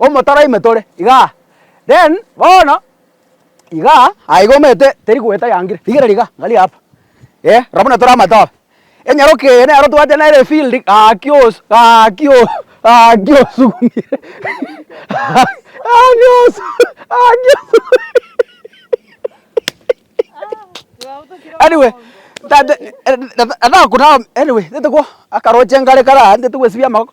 omotaro ime tore igaa, then bono igaa aye iga omanyete teri goeta yangire, rigereria igaa angalia hapa, eh rabi buna tore amatoba, enyaroke eye nero tobwate nere efield gaki osu gaki osu gaki osugumire gaki osu gaki osugumire anyway tata natagokunama anyway tete ko akaroche ngare kare aa ntete gwesibia amagoko.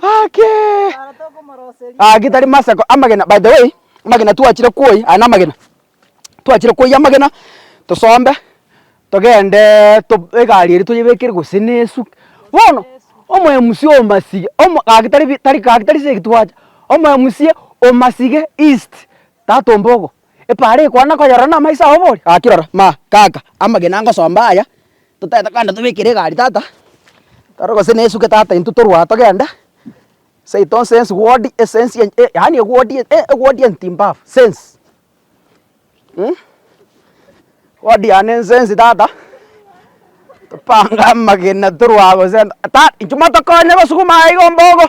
Haki! Haki tari masako amagena by the way amagena twachire kwoyia aya namagena twachire kwoyia amagena tosombe togendee to egari eria toyebekere gose na esu bono omoemusi omosige omo gaki tari bi tari gaki tari segi twacha omoemusi omosige east tata ombogo. Epaara ekwana koyorora na amaiso ao bori, Gaki rora, ma, kaka, amagena ngosomba aya, totaete kogenda tobekere egari tata, toro gose nesuke tata intwe torue aa togende, seito nsense wodi esense ye e yaani ewodi e ewodi entimbafu sense mh. Wodi yane ensense tata, topange amagena torue aa gose ta inche motokonye gosuguma aa igo mbogo.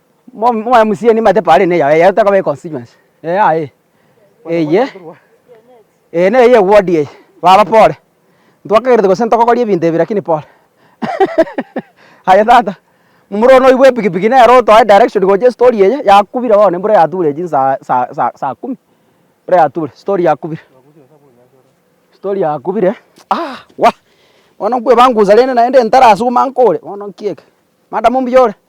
Mo mo MCA nimanyete pari ne yaye, yaye takaba econstituency, eyaye eye eye neye ya eward eye, baba pore, ntwakegerete gose ntokogori ebinto ebi rakini pore aye tata, momura one oibwa epikipiki nere otoe direction gocha estori eye yakubire bono embura yaturire chinsa sa sa saa kumi, embura yaturire stori yakubire stori yakubire aah wah, bono nkwebangusania rende naende ntarasuguma nkore bono nkiege, madam mbuya ore.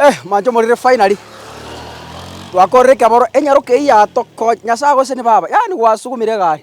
Eh, manche morire finally. Twakorire ekeboro enyaroke eyio yatokonye. Nyasae gose ni baba. Yaani gwasugumire egari.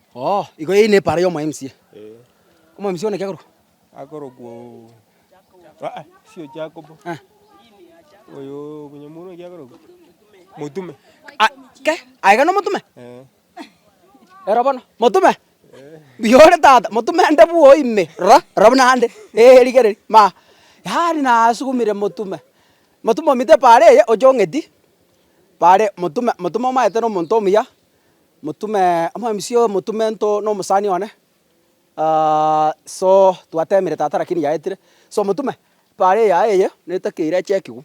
Oo, igo eye nepaara y'omwaemsie. Omwaemsie one ki akorokwa? Akorokwa oo, aa sio Jakobo. Eh. Oyoo bonyamuro oyo ki akorokwa? Motume. A- ke, aye iga nomotume? Eeh. Rora bono, motume? Mbuya ore tata, motume nde bwooo ime, rora, rora buna ande, eeh rigereria, ma, yaani nasugumire motume. Motume omite epaara eye, oche ong'eti, paare motume, motume omaete na omonto omuya. Motume omobisi oyo motume nto nomosani one so twatemire tata lakini yaetire so motume pare eya eye netake ira echekigwe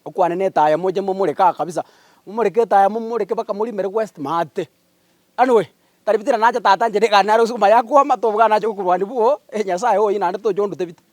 okwanena etaya moche momoreke aa kabisa momoreke etaya momoreke mpaka morimere west maate anyway taribi tira nache tata inche nigane naro ase okomaye akwama tobwate nache okorwania boo nyasaye oye naende toche ondute bite.